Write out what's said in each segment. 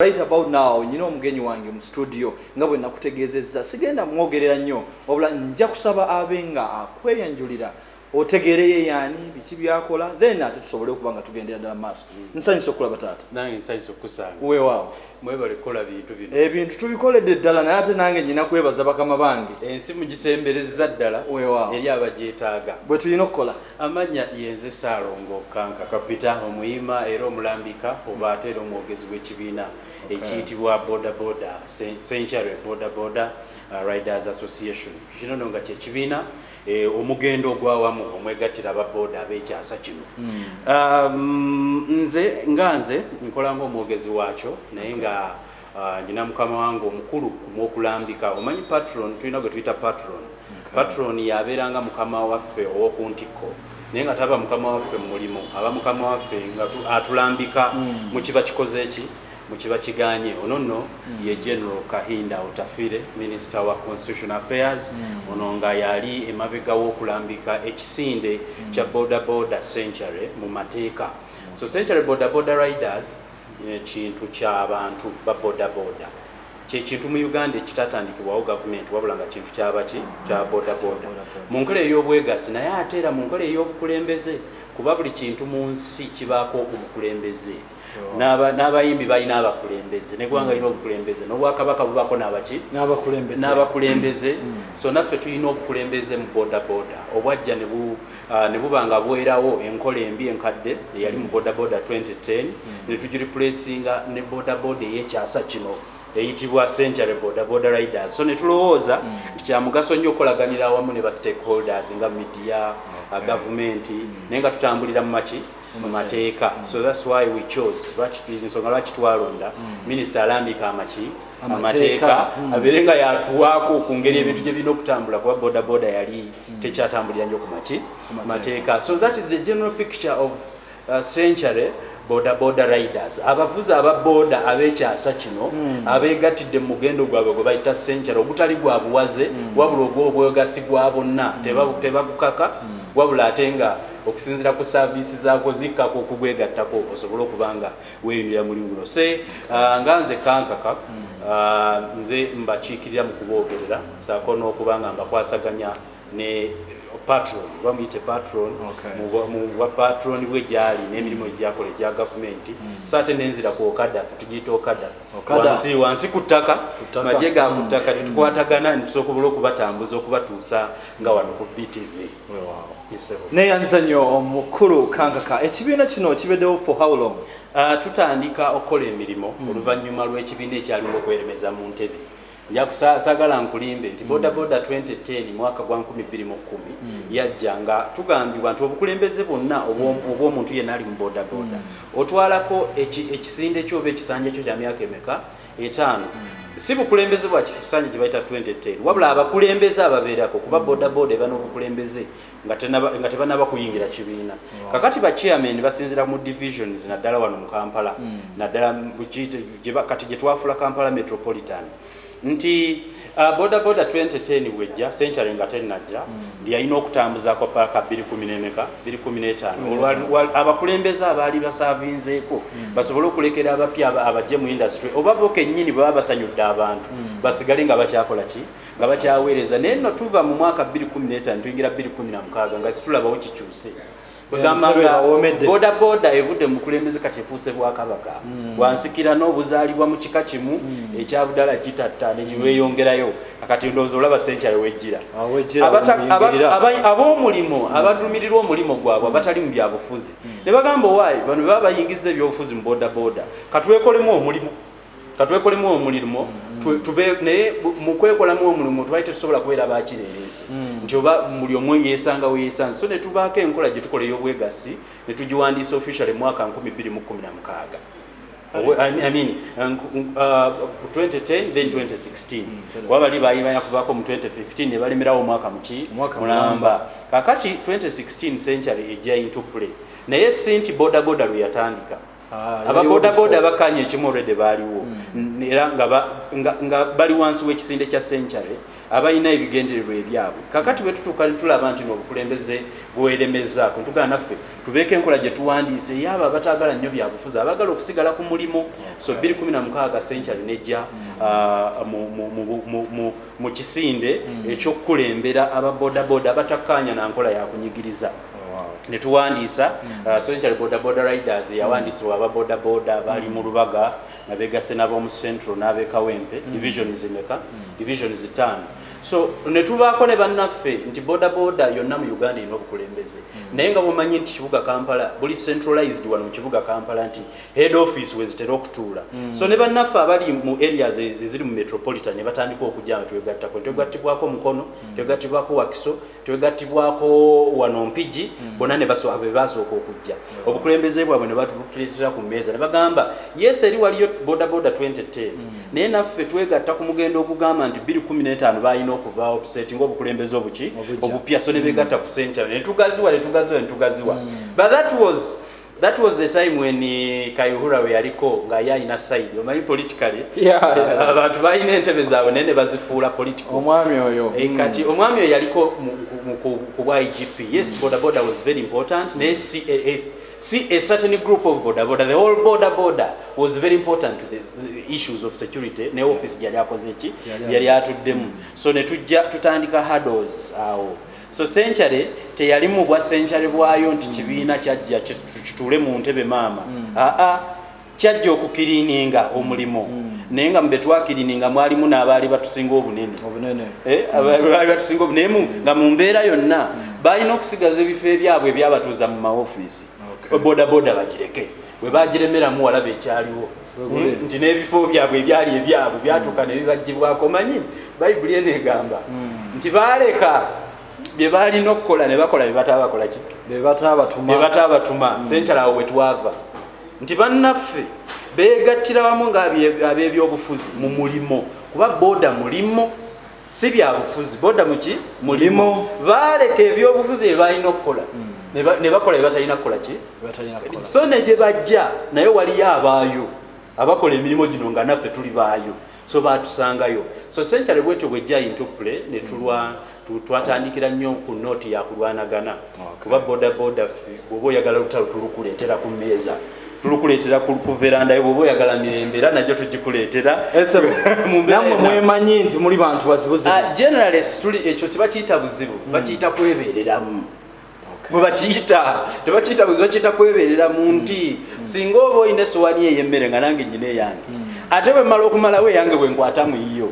Right about now nyina omugenyi wange mu studio nga bwe nakutegeezezza sigenda mwogerera nnyo obula nja kusaba abe nga akweyanjulira otegeereyo yaani biki byakola then ate tusobole okuba nga tugendera ddala maaso mm. nsanyusa okulaba taata nange nsanyusa okukusanga wewaawo mwebale kukola bintu bino ebintu eh, tubikoledde ddala naye ate nange nyina kwebaza bakama bange ensi mugisemberezza ddala wewaawo eri abagyetaaga bwe tulina okukola Amannya yenze Ssaalongo Kankaka Peter omuyima era omulambika oba ate era omwogezi w'ekibiina ekiyitibwa Boda Boda Ssencharwe Boda Boda Riders Association. Kino nno nga kye kibiina omugendo ogw'awamu omwegattira aba boda ab'ekyasa kino. Nze nga nze nkola ng'omwogezi waakyo naye nga Ah, njina mukama wange omukulu kumwokulambika omanyi patron tulina gwe tuyita patron patron yabeera nga mukama waffe owokuntikko naye nga taba mukama waffe mumulimu aba mukama waffe nga atulambika mm. mukiba kikoze eki mukiba kiganye ono no mm. ye general kahinda otafire minister wa constitution affairs mm. ono nga yali emabega wokulambika ekisinde kya boda boda century mu mateeka so century boda boda riders kintu kya bantu ba boda boda kye kintu mu Uganda ekitatandikibwawo gavumenti wabula nga kintu kya baki kya boda boda mu nkola ey'obwegassi naye ate era mu nkola ey'obukulembeze kuba buli kintu mu nsi kibaako omukulembeze n'aba n'abayimbi balina abakulembeze n'eggwanga lirina obukulembeze n'obwakabaka bubaako n'abaki n'abakulembeze n'abakulembeze so naffe tulina obukulembeze mu boda boda obwajja ne bu ne buba nga bwerawo enkola embi enkadde eyali mu Boda Boda 2010 ne tugiripuleesinga ne Boda Boda ey'ekyasa kino eyitibwa Century Boda Boda Riders so ne tulowooza nti kya mugaso nnyo okukolaganira awamu ne ba stakeholders nga midiya, gavumenti naye nga tutambulira mu maki? mu mateeka so that's why we chose lwaki ensonga lwaki twalonda minisita alambike amaki? amateeka hmm. abeere nga yatuwaako ku ngeri hmm. ebintu gye birina okutambula kuba bodaboda yali hmm. tekyatambulira nnyo ku maki mateeka so that is the general picture of uh, century bodaboda riders abavuzi aba boda ab'ekyasa kino abeegattidde mu mugendo gwabwe gwe bayita century ogutali gwa buwaze wabula ogw'obwegasi gwa bonna tebagukaka wabula ate nga okusinzira ku saaviisi zaako zikkako okugwegattako osobole okuba nga weeyimira mulimu guno se uh, nga nze kankaka uh, nze mbakiikirira mu kuboogerera saako n'okuba nga mbakwasaganya ne patron oba muyite patron mubwa patron bwe gyali n'emirimu egyakola egya gavumenti hmm. so ate nenzira ku okada tugiyita okada wansi wansi ku ttaka magye ga ku ttaka hmm. tetukwatagana nitusobola okubatambuza okubatuusa nga wano ku btv neyanziza nyo omukulu kankaka ekibiina kino kibedewo for how long uh, tutandika okukola emirimu mm. oluvanyuma lwekibiina ekyaliwo okweremeza mu ntebe njakusagala nkulimbe nti hmm. bodaboda 2010 mwaka gwa 210 hmm. yajja nga tugambibwa nti obukulembeze bwonna hmm. obwomuntu yenna ali mu bodaboda otwalako ekisinde kyoba ekisanja kyo kya myaka emeka etaano si bukulembeze bwa kisisanyi gye bayita 2010 wabula abakulembeze ababeerako kuba bodaboda eba n'obukulembeze nga tebanaba kuyingira kibiina kakati ba chairman basinzira mu divisions naddala wano mu kampala hmm. naddala kati gye twafula kampala metropolitan nti Uh, boda boda 2010 bwejja century nga tenajja mm. yalina okutambuzako paaka 215 abakulembeze abaali basavinzeeko mm. basobole okulekera abapya abajje mu industry oba bo kennyini baba basanyudde abantu mm. basigale nga bakyakola ki nga bakyaweereza naye no tuva mu mwaka 215 tuyingira 216 nga situlabawo kikyuse kwegamba nga boda boda evudde mukulembeze kati efuuse bwakabaka mm. bwansikira n'obuzaalibwa mu kika kimu mm. ekyabudala kitatta nekiweyongerayo mm. akati ndowooza olaba sente awejjira ab'omulimu mm. abadumirirwa omulimu gwabwe mm. abatali mu byabufuzi mm. ne bagamba owaayi bano baba bayingiza ebyobufuzi mu boda boda katwekolemu omulimu katwekolemu omulirmo mm. tube naye mukwekolamu omulimo twali tetusobola kubeera bakireeresi mm. nti oba buli omu yesangawo yesanze so netubaako enkola gyetukola eyobwegassi netugiwandiisa official emwaka 216 2010 then 2016 kuba bali baali banya kuvaako mu 2015 ne balemerawo omwaka muki mulamba kakati 2016 century ejja into play naye sinti bodaboda lwe yatandika Ah, aba boda boda abakkaanya ekimu olwedde baaliwo hmm. era nga bali wansi w'ekisinde kya century abalina ebigendererwa ebyabwe kakati bwe tutuuka tulaba nti n'obukulembeze bweremezaako ntugaa naffe tubeeko enkola gye tuwandiise eyo abo abataagala nnyo byabufuzi abagala okusigala ku mulimu so 216 century nejja hmm. ah, mu kisinde eky'okukulembera aba bodaboda abatakkaanya na nkola ya kunyigiriza ne tuwandiisa uh, Central Bodaboda Riders eyawandiisibwa aba bodaboda bali mu lubaga nga beegasse n'ab'omu Central n'ab'e Kawempe division zimeka division zitaano so ne tubaako ne bannaffe nti bodaboda yonna mu Uganda erina obukulembeze naye nga bwomanyi nti kibuga Kampala buli centralized wano mu kibuga Kampala nti head office wezitera okutuula mm. so ne bannaffe abali mu areas e-, eziri mu metropolitan ne batandika okujja nga twegattako twegattibwako mukono mm. twegattibwako wakiso twegattibwako wano mpigi mm. bona ne basooka be baasooka okujja mm. obukulembeze bwabwe ne batuleetera ku mmeeza ne bagamba yes eri waliyo bodaboda 2010 mm. naye naffe twegatta ku mugendo ogugamba nti 215 balina okuvaawo tusetinga obukulembeze obuki obupya so ne begatta mm. ku senkyala ne tugaziwa ne tugaziwa ne tugaziwa mm. but that was That was the time when eh, Kayuhura we yaliko nga ye alina side omanyi politically abantu balina entebe zaabwe naye ne bazifuula political omwami oyo eh, kati mm. omwami oyo yaliko ku bwa igp yes mm. bodaboda was very important naye si eh, see a certain group of border border the whole border border was very important to the issues of security ne office yali akoze ki yali atuddemu mm. so ne tujja tutandika hurdles awo uh, So century teyali mu bwa century bwayo nti kibiina kyajja kituule mu ntebe maama. Aa kyajja okukiriininga omulimu. Naye nga mu be twakiriininga mwalimu n'abaali batusinga obunene. Obunene. Eh, abaali batusinga obunene. Naye nga mu mbeera yonna baalina okusigaza ebifo ebyabwe ebyabatuuza mu mawofiisi. Okay. Bodaboda bagireke. bwe bagiremeramu walaba ekyaliwo hmm? nti n'ebifo byabwe ebyali ebyabwe byatuuka ne bibagibwako manyi bayibuli eno egamba hmm. nti baaleka bye baalina okukola ne bakola bye bataba bakola ki bye bataba batuma hmm. senkyalawo we twava nti bannaffe beegattira wamu ng'ab'ebyobufuzi mu mulimu kuba booda mulimu si byabufuzi boda muki mulimu baaleka ebyobufuzi bye balina okukola hmm. ne bakola bye batalina kukola ki so ne gye bajja naye waliyo abaayo abakola emirimu gino nga naffe tuli baayo so baatusangayo so senkyale bwetyo bwejja intupule ne tulwa hmm. twatandikira nnyo ku nooti yakulwanagana kuba bodaboda bwoba oyagala lutalo tulukuleetera ku mmeeza tulukuleetera ku veranda yo bwoba oyagala mirembe era nagyo tugikuleetera namwe mwemanyi nti muli bantu bazibuzibu ah, generales tuli ekyo tebakiyita buzibu hmm. bakiyita kwebeereramu bwebakiyita tebakiyita buzibu bakiyita kwebeereramu hmm. nti hmm. singa oba olina esowani eyemmere nga nange nyina eyange ate bwemala okumalawo eyange bwenkwata muyiyo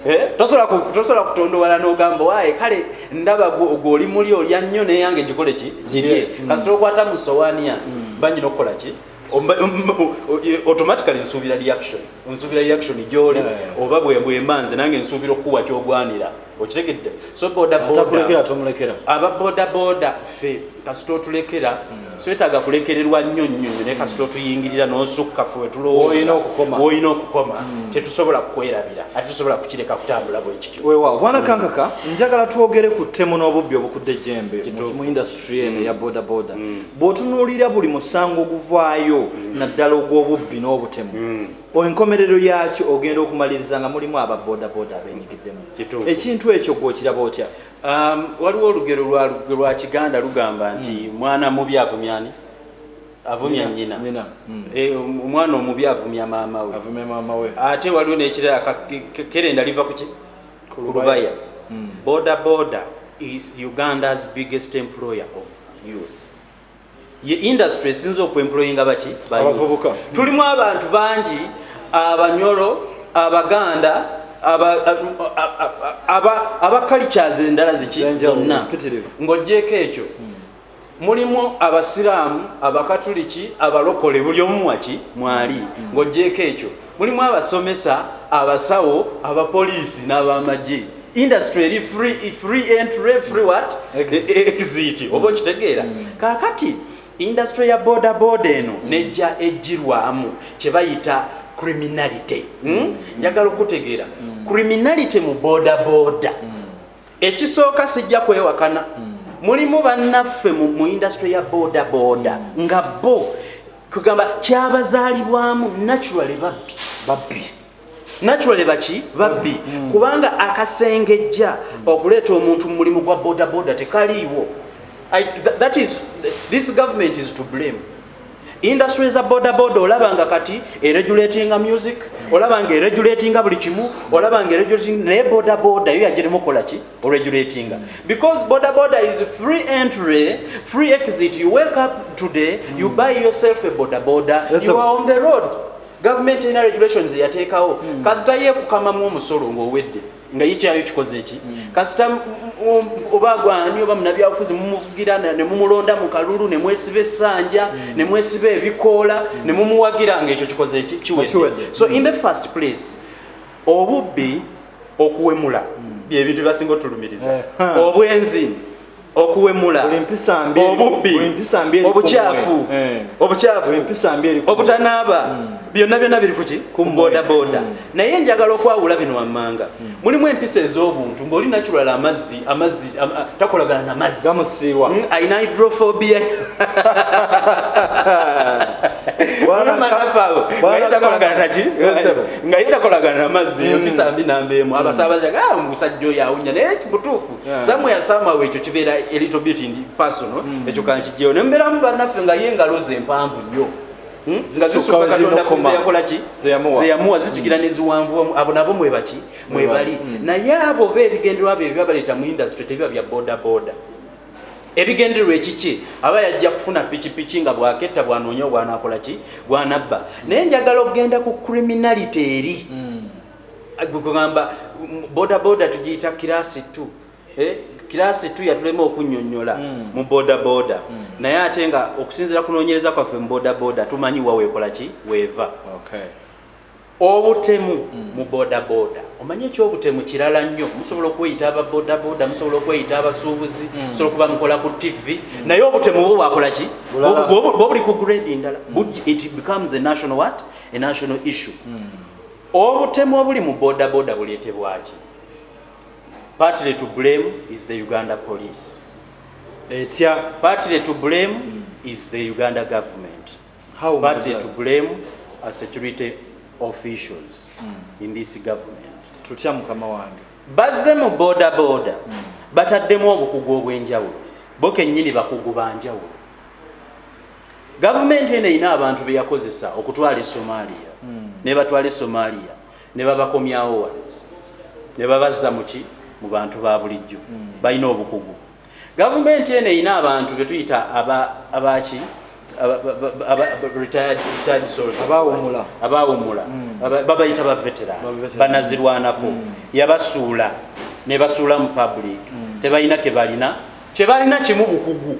Eh, tosobola kutondowala nogamba waye kale ndaba gweoli muli olya nnyo neyange gikole ki girye mm. kasita okwata mu sowaani yange mm. banyina okukola ki automatically nsuubira reaction nsuubira reaction gyoli oba bwemba nze nange nsuubira okukuwa kyogwanira okitegedde so bodaboda aba bodaboda ffe kasita otulekera mm. swetaaga kulekererwa nnyo nnyo nyo naye kasita otuyingirira n'osukka fe wetulowooza woolina okukoma hmm. tetusobola kukwerabira ate tusobola kukireka kutambula bwe kityo weewaawo bwana hmm. kankaka njagala twogere ku ttemu n'obubbi obukudde ejjembe mu indasitry eno hmm. ya bodaboda bw'otunuulira buli musango oguvaayo naddala ogw'obubbi n'obutemu enkomerero yaakyo ogenda okumaliriza nga mulimu aba bodaboda abenyigiddemu ekintu ekyo gw'okiraba otya Um, waliwo olugero lwa kiganda lugamba nti hmm. mwana mubi avumyani avumya nyina hmm. eh, um, omwana omubi avumya maama we ate waliwo nekirala kerenda liva kuki kulubaya hmm. boda boda is uganda's biggest employer of youth ye industry esinza okwemployinga baki abavubuka tulimu abantu bangi abanyolo abaganda aba cultures endala ziki zonna ng'ogyeko ekyo mulimu abasiraamu abakatuliki abalokole buli omu waki mwali ng'ogyeko ekyo Mulimu abasomesa, abasawo, abapoliisi n'abamagye. Industry eri free, free entry, free what? Exit. E- Exit. Oba okitegeera. Kaakati industry ya boda boda eno nejja ejjirwamu kye bayita criminality. Hmm? Njagala okutegeera. Criminality mu boda boda. Ekisooka sijja kwewakana. Mulimu bannaffe mu, mu industry ya boda boda nga bo kugamba kyabazaalibwamu naturally babbi babbi naturally baki babbi mm. kubanga akasengejja mm. okuleeta omuntu mu mulimu gwa bodaboda tekaliiwo that is this government is to blame industry za bodaboda olaba nga kati eregulatinga music mm. olaba nga eregulatinga buli kimu olaba nga eregulatinga naye bodaboda yo yagirimu okola ki regulatinga because border border is free entry free exit you wake up today mm. you buy yourself a border border yes, you are on the road government in regulations yateekawo mm. kasita ye kukamamu omusolo ng'owedde nga yikyayo kikoze ki mm. kasita oba gwani oba munabyabufuzi mumuvugira ne mumulonda mu kalulu ne mwesiba essanja mm. ne mwesiba ebikoola mm. ne mumuwagira nga ekyo kikoze ki kiwedde so in the first place obubbi okuwemula byebintu byebasinga otulumiriza eh, obwenzi okuwemula obubbi obukyafu eh. obukyafu obutanaaba hmm. byonna byonna biri kuki ku bodaboda hmm. naye njagala okwawula bino wammanga hmm. mulimu empisa ez'obuntu ng'oli naculala amazzi amazzi takolagana na mazzi gamusiiwa mm, alina hydrophobia nga yetakolagana na mazzi mm. empisa mbi namba emu mm. abasabaza ah, musajja oyo awunya naye mutuufu samu yasamawo ekyo kibeera elito bit ndi personal ekyo kankijjewo ne mbeeramu bannaffe nga ye engalo ze mpanvu nnyo hmm? nga zisuka katonda zeyakolaki zeyamuwa zitugira neziwanvuwamu abo nabo mwebaki mwebali mm. naye abo oba ebigendererwa byo ebiba baleeta mu industry tebiba bya bodaboda ebigendererwa ekiki aba yajja kufuna pikipiki nga bwaketta bwanoonya obwanakola ki bwanabba naye njagala okugenda ku criminality eri mm. gugamba bodaboda tugiyita kirasi t eh, kirasi t yatulema okunyonyola mm. mu bodaboda naye ate nga okusinzira kunonyereza kwaffe mu bodaboda tumanyi waweekola ki weeva Obutemu mu boda boda omanyi ekyobutemu kirala nnyo musobola okweyita aba boda boda musobola okweyita abasuubuzi hmm. musobola okuba mukola ku ttivi hmm. naye obutemu bwo bwakola ki bobuli ku grade ndala hmm. it becomes a national what a national issue obutemu obuli mu boda boda buleetebwaki partly to blame is the uganda police etya partly to blame is the uganda government party to blame as security officials in this government tutya mukama wange bazze mu boda boda hmm. bataddemu obukugu obw'enjawulo bo kennyini bakugu ba njawulo gavumenti eno erina abantu be yakozesa okutwala e somaliya hmm. ne batwala e somaliya ne babakomyawo wano ne babazza muki mu bantu ba bulijjo hmm. balina obukugu gavumenti eno erina abantu betuyita abaki abawumula hmm. babayita bavetera banazirwanako hmm. yabasuula nebasuula mu public hmm. tebalina kebalina kyebalina kimu bukugu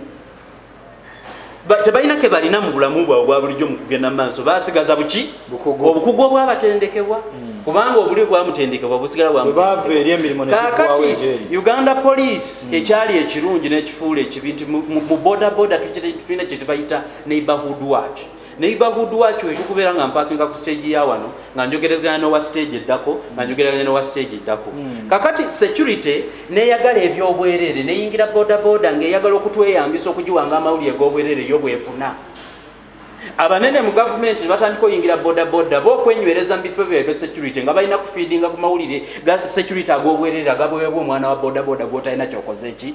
tebalina kebalina mu bulamu bwabwe bwa bulijjo mu kugenda mu maaso basigaza buki obukugu obwabatendekebwa hmm. kubanga obuli bwamutendekebwa busigala bwakakati uganda police hmm. ekyali ekirungi n'ekifuula ekibi nti mu bodaboda tulina kyetubayita neighborhood watch neighborhood watch wekyo kubeera nga mpakinga ku stage ya wano nga njogerezganya nowa stage eddako nga njogerezganya nowa stage eddako hmm. kakati security neyagala ebyobwerere neyingira bodaboda ngaeyagala okutweyambisa okugiwanga amawulire gobwerere yo bwefuna abanene mu gavumenti nebatandika oyingira bodaboda ba okwenywereza mu bifo byebye security nga balina kufiidinga ku mawulire ga security agobwerere agabwewebwa omwana wa bodaboda gwotalina kyokoze ki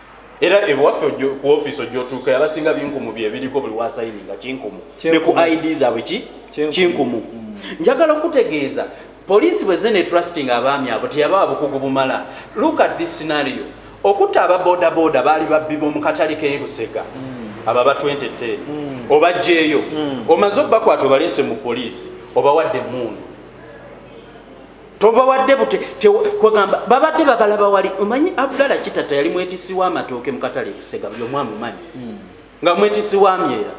era ewaffe ku ofiisi ojja otuuka abasinga binkumu byebiriko buli wasayini nga kinkumu ne ku id zaabwe ki kinkumu mm. njagala okutegeeza poliisi bwezze ne trusting abaami abo teyabawa bukugu bumala look at this scenario okutta aba bodaboda baali babbi b'omu katale k'erusega mm. abo aba 20 te mm. obajjeeyo omaze obakwata obaleese mu poliisi obawadde emundu tobawadde bute kwegamba babadde bagala bawali omanyi abdala kitata yali mwetisi w'amatooke mukatale busega buli omu amumanyi hmm. nga mwetisi wa myera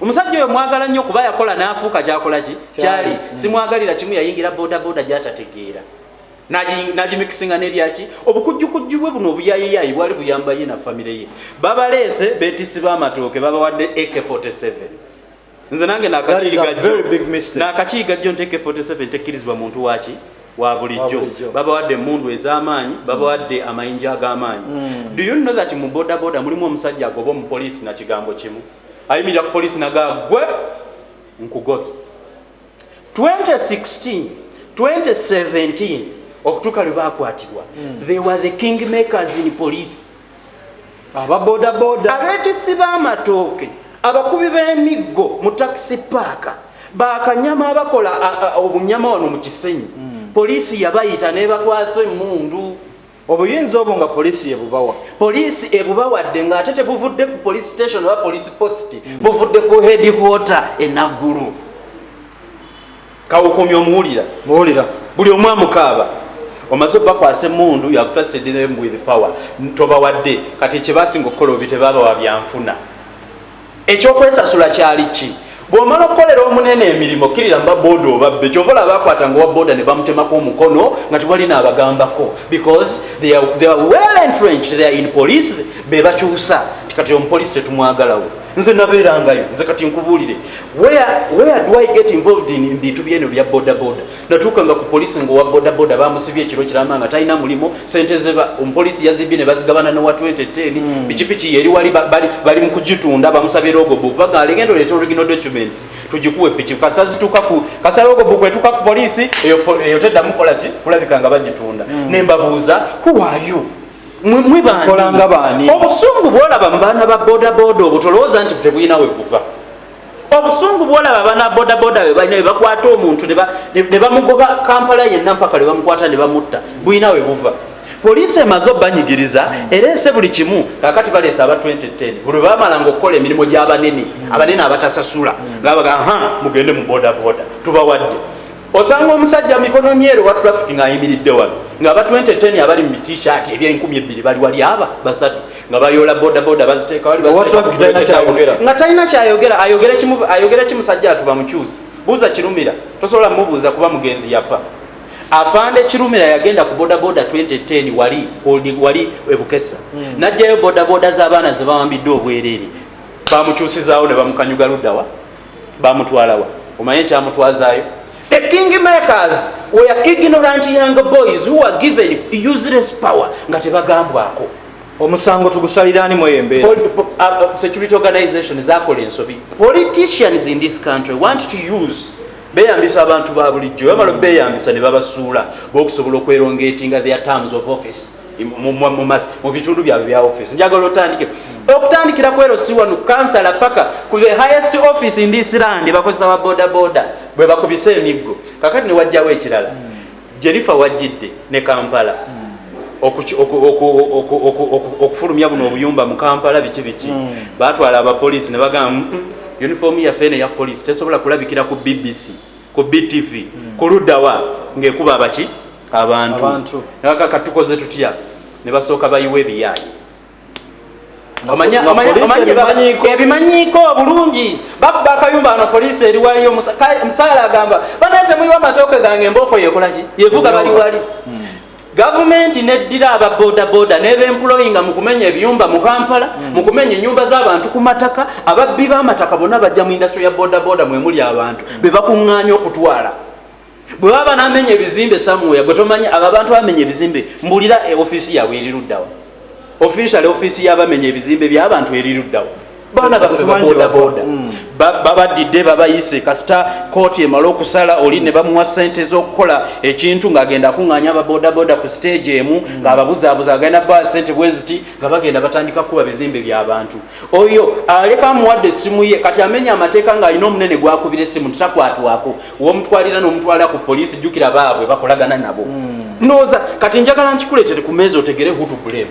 omusajja oyo mwagala nnyo kuba yakola n'afuuka kyakola ki kyali hmm. simwagalira kimu yayingira bodaboda gyatategeera nagimikisinga nebyaki obukujjukujju bwe buno obuyayiyayi bwali buyamba ye na famire ye babaleese betisi b'amatooke babawadde ak 47 nze nange nakakiiga jjo nteeka 47 tekkirizibwa muntu waki wa bulijjo babawadde emundu ez'amaanyi mm. babawadde amayinja ag'amaanyi mm. do you know that mu bodaboda mulimu omusajja agoba omupoliisi na kigambo kimu ayimirira ku poliisi nagaa gwe nkugobye 2016 2017 okutuuka lwe bakwatibwa hmm. they were the king makers in police ababodaboda abeetisi b'amatooke abakubi b'emiggo mu takisi paaka bakanyama abakola obunyama wano mu kisenyi hmm. poliisi yabayita nebakwasa emundu obuyinza obwo nga poliisi yebubawa poliisi ebubawadde ng'ate tebuvudde ku police station oba police post buvudde ku headquarter enaggulu kawukumya omuwulira muwulira buli omu amukaaba omaze obakwasa emundu yavutasedemu with power tobawadde kati kyebasinga okukola obi tebabawa byanfuna Eky'okwesasula kyali ki? Bw'omala okukolera omunene emirimu, okkirira mu babbooda obabbe. Ky'ova olaba baakwatanga owa bbooda ne bamutemako omukono nga tewali n'abagambako because they are, they are well entrenched, they are in police, be bakyusa nti kati omupoliisi tetumwagalawo. Nze nabeerangayo, nze kati nkubuulire, where, where do I get involved in bintu by'eno bya bodaboda? natuukanga ku poliisi ngaowa bodaboda bamusibye ekiro kiramba nga talina mulimu sente ze omupoliisi yazibye ne bazigabana nowa 2010 hmm. pikipiki yeri wali bali mu kugitunda bamusabye rogobook baga legenda oleeta original documents tugikuwe piki kasazituuka ku kasa rogobook etuuka ku poliisi eyo teddamu kola ki kulabika nga bagitunda hmm. ne mbabuuza kuwayo mwebankolanga baani obusungu bwolaba mu baana ba bodaboda obutolowooza nti tebulina we buva obusungu bwolaba bana bodaboda webalina webakwata omuntu nebamugoba kampala yenna mpaka lwebamukwata nebamutta bulina webuva poliisi emaze obanyigiriza ereese buli kimu kakati baleese aba 2010 buli webamalanga okukola emirimu gyabanene abanene abatasasula ngabaga ha mugende mu bodaboda tubawadde Osanga omusajja mikono myeru owa traffic ng'ayimiridde wano ng'aba 2010 abali mu t-shirt eby'enkumi ebbiri bali wali aba basatu nga bayoola bodaboda baziteeka wali nga talina kyayogera ayogera ki musajja atu bamukyusi buuza kirumira tosobola mubuuza kuba mugenzi yafa afande kirumira yagenda ku bodaboda 2010 wali holding wali ebukesa hmm. najjayo bodaboda z'abaana zebawambiddwa obwereere bamukyusizaawo ne bamukanyuga luddawa bamutwalawa omanyi ekyamutwazayo the king makers were ignorant young boys who were given useless power nga tebagambwako omusango tugusalirani mweyembeera uh, uh, security organization zakola ensobi politicians in this country want to use beyambisa abantu ba bulijjo bamala beyambisa ne babasuula bokusobola okwerongetinga their terms of office mu bitundu byabwe bya office njagala otandike okutandikira kwero si wano kansala paka ku the highest office in this land bakozesa ba boda boda bwe bakubisa emiggo kakati ne wajjawo ekirala hmm. jerifa wajjidde ne kampala hmm. okufulumya buno obuyumba mu kampala biki biki hmm. batwala abapoliisi ne bagamba uniform yaffe eno eya poliisi tesobola kulabikira ku bbc ku BTV kuludawa ngekuba abaki abantu naka katukoze tutya ne basoka bayiwe ebiyayi ebimanyiiko obulungi babba akayumba ano poliisi eri waliyo musaala agamba banaye temuyiwa amatooke gange embooko yekolaki yevuga bali wali hmm. Gavumenti neddira aba bodaboda nebempuloyinga mu kumenya ebiyumba mu Kampala mm. mu kumenya enyumba z'abantu ku mataka ababbi b'amataka bonna bajja mu indasitule ya bodaboda mwemuli abantu mm. bebakuŋŋaanya okutwala bwe baba namenya ebizimbe samuya gwe tomanyi abo abantu bamenya ebizimbe mbulira e ofiisi yaabwe eriruddawa ofiisale ofiisi y'abamenya ebizimbe by'abantu eriruddawa baana baffe babodaboda mm. babaddidde babayise kasita kooti emala okusala oli ne bamuwa sente z'okukola ekintu ng'agenda akuŋŋaanya ababodaboda ku siteegi emu mm. ng'ababuzaabuza agenda baa sente bweziti nga bagenda batandika kukuba bizimbe by'abantu oyo aleka amuwadde essimu ye kati amenya amateeka ng'alina omunene gwakubira essimu titakwatwako womutwalira n'omutwala ku poliisi jjukira baabwe bakolagana nabo mm. ndowooza kati njagala nkikuleetere ku meezi otegere hutukulemu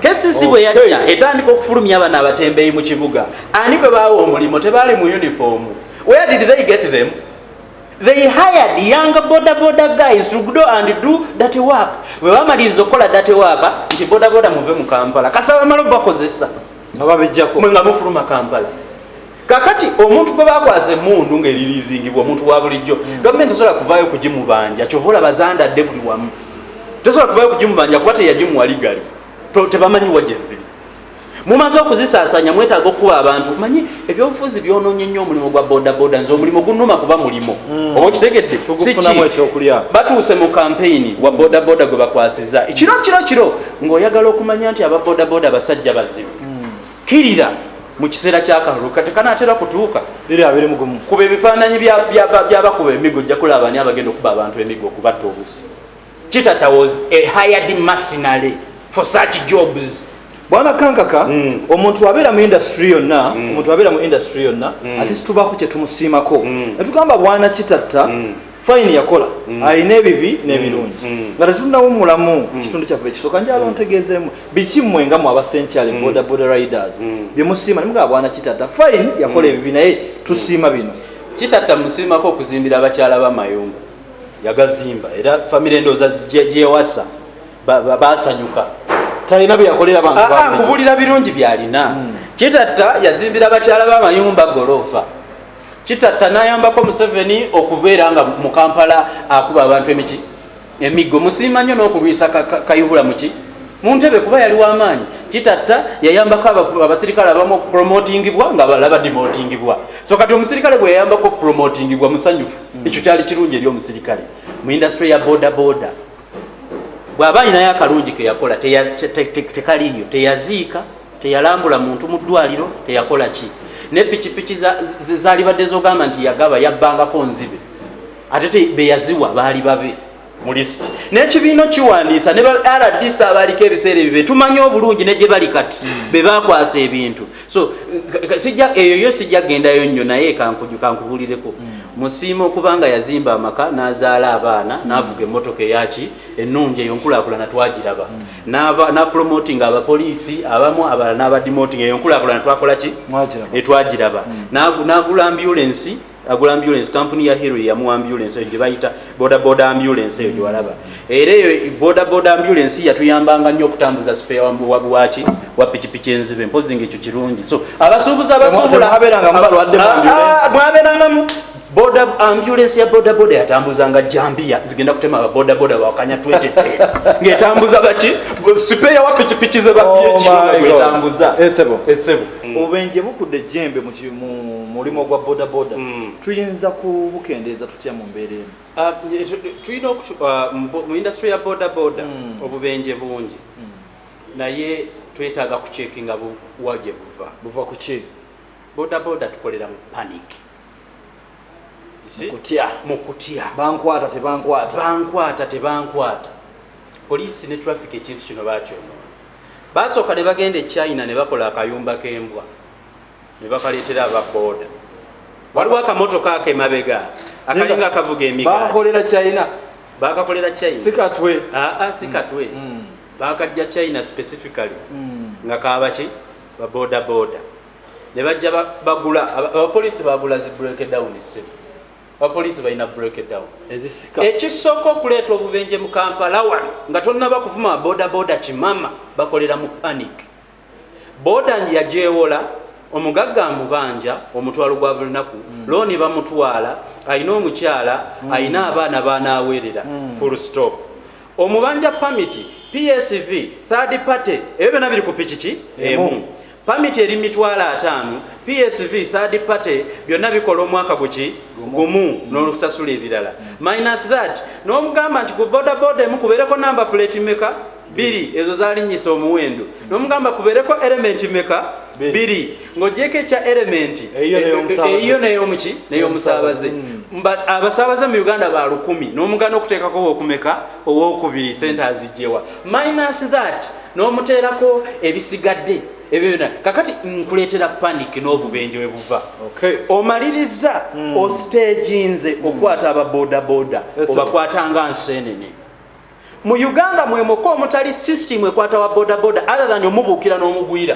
KCC bwe yajja etandika okufulumya abana abatembeeyi mu kibuga ani gwe baawa omulimu tebaali mu yunifoomu where did they get them they hired young boda boda guys to go and do that work bwe bamaliriza okukola that work nti boda boda muve mu kampala kasaba malo bakozesa nga babijjako mwe nga mufuluma kampala kakati omuntu gwe bakwaza emundu ngaerilizingibwa omuntu wabulijjo hmm. gavumenti esobola kuvayo kugimubanja kyova olaba zandadde buli wamu tesobola kuvayo kugimubanja kuba teyagimuwaligali tebamanyi wajeziri mumaze okuzisasanya mwetaaga okukuba abantu manyi ebyobufuzi byononye nnyo omulimu gwa bodaboda nze omulimu gunuma kuba mulimu hmm. oba okitegedde batuuse mu kampeyini wa bodaboda gwe bakwasiza ekiro kiro kiro ngaoyagala okumanya nti aba bodaboda basajja bazibu hmm. kirira mu kiseera kyakalulu kati kanaatera kutuuka eri abeere mugumu kuba ebifaananyi byabakuba emigo ojja kulaba ani abagenda okuba abantu emigo okubatta obusi kitata was a hired mercenary for such jobs bwana kankaka mm. omuntu abeera mu industry yonna mm. omuntu abeera mu industry yonna mm. ate situbako kyetumusiimako mm. netugamba bwana kitatta mm. fine yakola mm. alina ebibi n'ebirungi mm. mm. nga tetunawumulamu ku kitundu kyaffe ekisooka njala ontegeezeemu biki mmwe nga mu abasenkyale boda boda riders bye musiima ne mugaba bwana kitatta fine yakola ebibi naye tusiima bino kitatta musiimako okuzimbira abakyala b'amayumba yagazimba era famire endooza gyewasa baasanyuka talina byeyakolera bantu ah, ah, kubulira birungi byalina kitatta yazimbira abakyala b'amayumba goloofa kitatta nayambako museveni okubeera nga mu kampala akuba abantu emiki emiggo musiima nnyo n'okulwisa kayihula muki mu ntebe kuba yali wamaanyi kitatta yayambako abasirikale abamu okupromotingibwa nga balala badimotingibwa so kati omusirikale gwe yayambako okupromotingibwa musanyufu mm. ekyo kyali kirungi eri omusirikale mu industry ya bodaboda bwaba alinayo akalungi keyakola tekaliyo teyaziika teyalambula muntu mu ddwaliro teyakola ki ne pikipiki zalibadde zogamba nti yagaba yabbangako nzibe ate beyaziwa baali babe mu lisiti n'ekibiina kiwandiisa ne ba rdc abaaliko ebiseera ebyo betumanyi obulungi ne gye bali kati hmm. be bakwasa ebintu so sijja eyo yo sijja gendayo nnyo naye kankuju kankubulireko mm. musiima okuba nga yazimba amaka n'azaala abaana mm. n'avuga emmotoka eyaki ennungi eyo nkulaakulana twagiraba mm. napromotinga abapoliisi abamu abala n'abadimotinga eyo nkulaakulana twakola ki etwagiraba n'agula ambulensi agula ambulance kampuni ya hero yamuwa ambulance eyo gyebayita bodaboda ambulance eyo gyewalaba era eyo bodaboda ambulance yatuyambanga nnyo okutambuza sipeya wabuwaki wa pikipiki enzibe mpozi nga ekyo kirungi so abasuubuzi abasuubulaamwabeerangamu ah, boda ambulance ya boda boda yatambuza nga jambia zigenda kutema ba boda boda wakanya 20 ngetambuza baki sipe ya wapi chipichize ba oh ph ngetambuza esebo esebo mm. obenje bukude jembe ki mu mulimu gwa bodaboda hmm. tuyinza kubukendeeza tutya mu mbeera emu ah, tulina ah, mu industry ya bodaboda hmm. obubenje bungi hmm. naye twetaaga kucekinga buwa gye buva buva ku ki bodaboda tukolera mu panic kutya mu kutya bankwata tebankwata bankwata tebankwata poliisi ne traffic ekintu kino bakyonoona basooka ne bagenda e china ne bakola akayumba k'embwa ne bakaleetera aba booda waliwo akamotoka ako emabega akalinga akavuga emigabakolera china bakakolera china sikatwe aa ah, ah, sikatwe mm. mm. bakajja china specifically mm. nga kabaki baboda boda ne bajja bagula abapoliisi bagula zi breakdown se abapoliisi balina breakdown ekisooka okuleeta obubenje mu kampala wano nga tonnaba kuvuma baboda boda kimama bakolera mu panic Boda yagyewola, omugagga amubanja omutwalo gwa bulinaku, looni bamutwala, alina omukyala, alina abaana b'anaaweerera full stop. Omubanja pamiti, PSV, third party ebyo byonna biri ku pikiki emu. Pamiti eri mu mitwalo ataano, PSV, third party byonna bikola omwaka guki? Gumu n'okusasula ebirala. Minus that n'omugamba nti ku bodaboda emu kubeereko namba puleeti mmeka? biri ezo zalinnyisa omuwendo nomugamba kubeereko elementi meka biri ng'ogyeko ekya elementi eyiyo neyomuki neyomusaabaze abasaabaze mu uganda ba lukumi n'omugana okuteekako okumeka owokubiri sente azijjewa minus that n'omuteerako ebisigadde ebyo byona kakati nkuleetera panic n'obubenje we buva omaliriza hmm. osteginze okukwata ababodaboda obakwatanga nseenene Mu Uganda mwemoka omutali system ekwata wa boda boda other than omubuukira n'omugwira.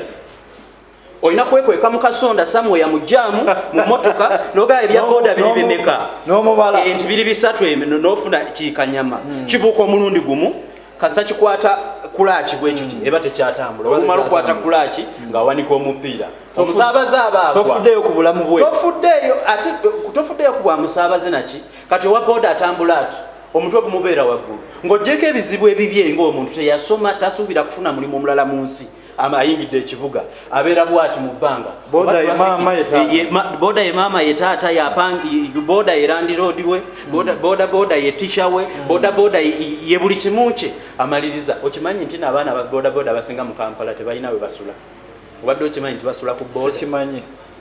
Olina kwekweka mu kasonda somewhere mu jaamu mu motoka nogaya ebya boda biri bimeka n'omubala enti biri bisatu emino n'ofuna kikanyama hmm. kibuuka omulundi gumu kasa kikwata kulaaki bwe kiti hmm. eba tekyatambula olumala okukwata kulaaki hmm. ng'awanika omupiira omusaabaze abaatofuddeeyo ku bulamu bwe tofuddeeyo ate tofuddeeyo ku bwa musaabaze naki kati owa boda atambula ati omutwe gumubeera waggulu ng'ogyeko ebizibu ebibye ng'omuntu teyasoma tasuubira kufuna mulimu omulala mu nsi ayingidde ekibuga abeera bwati mu bbanga boda ye maama ye taata boda ye landiroodi we boda boda ye tisha we hmm. boda boda ye buli kimu kye amaliriza okimanyi nti naabaana ba boda boda abasinga mu kampala tebalina we basula obadde okimanyi nti basula ku boda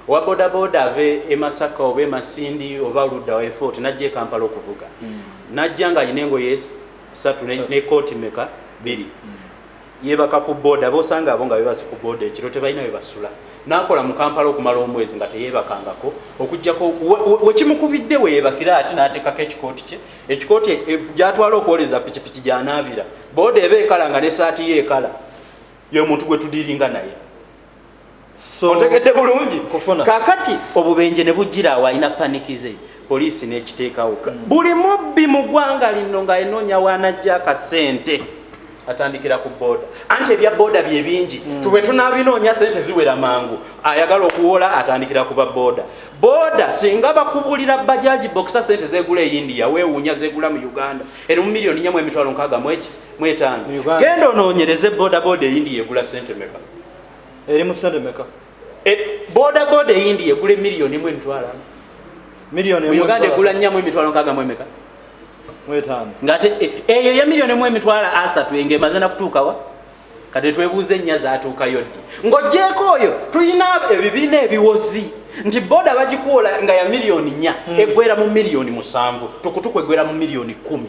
Owa bodaboda ave e Masaka oba e Masindi oba ludda wa effort najja e Kampala okuvuga mm. najja nga alina engoye satu ne kooti meka biri mm. yebaka ku boda bosanga abo nga bebase ku boda ekiro tebalina webasula nakola mu Kampala okumala omwezi nga teyebakangako okujjako wekimukubidde we weyebakira ati natekako ekikooti kye ekikooti e, gyatwala okwoleza pikipiki gyanaabira boda eba ekala nga nesaati ye ekala yomuntu gwetudiringa naye otegedde bulungi kakati obubenje ne bujjira awo alina panikize poliisi n'ekiteekawo mm. buli mubbi mu ggwanga lino ng'aenoonya waanajja akasente atandikira ku booda anti ebya booda bye bingi mm. tube tunaabinoonya sente ziwera mangu ayagala okuwola atandikira ku ba booda booda singa bakubulira bajaji bokisa sente zegula e india weewuunya zegula mu uganda eri mu miliyoni nyamu emitwalo nkaaga mweki mwetaano genda onoonyereze bodaboda eyindiya egula sente meka eri mu sente meka e, bodaboda eyindiya egula emiliyoni emu emitwalo ano miliyoni mu uganda egula nnyamu emitwalo nkaaga mu emeka mwetaano ngaate e, eyo eya miliyoni emu emitwalo asatu enga emaze nakutuukawa kati twebuuze ennya zatuukayo ddi ng'ogyeko oyo tulina ebibiina ebiwozi nti boda bagikuwola nga ya miliyoni nnya hmm. eggwera mu miliyoni musanvu tukutuku eggwera mu miliyoni kumi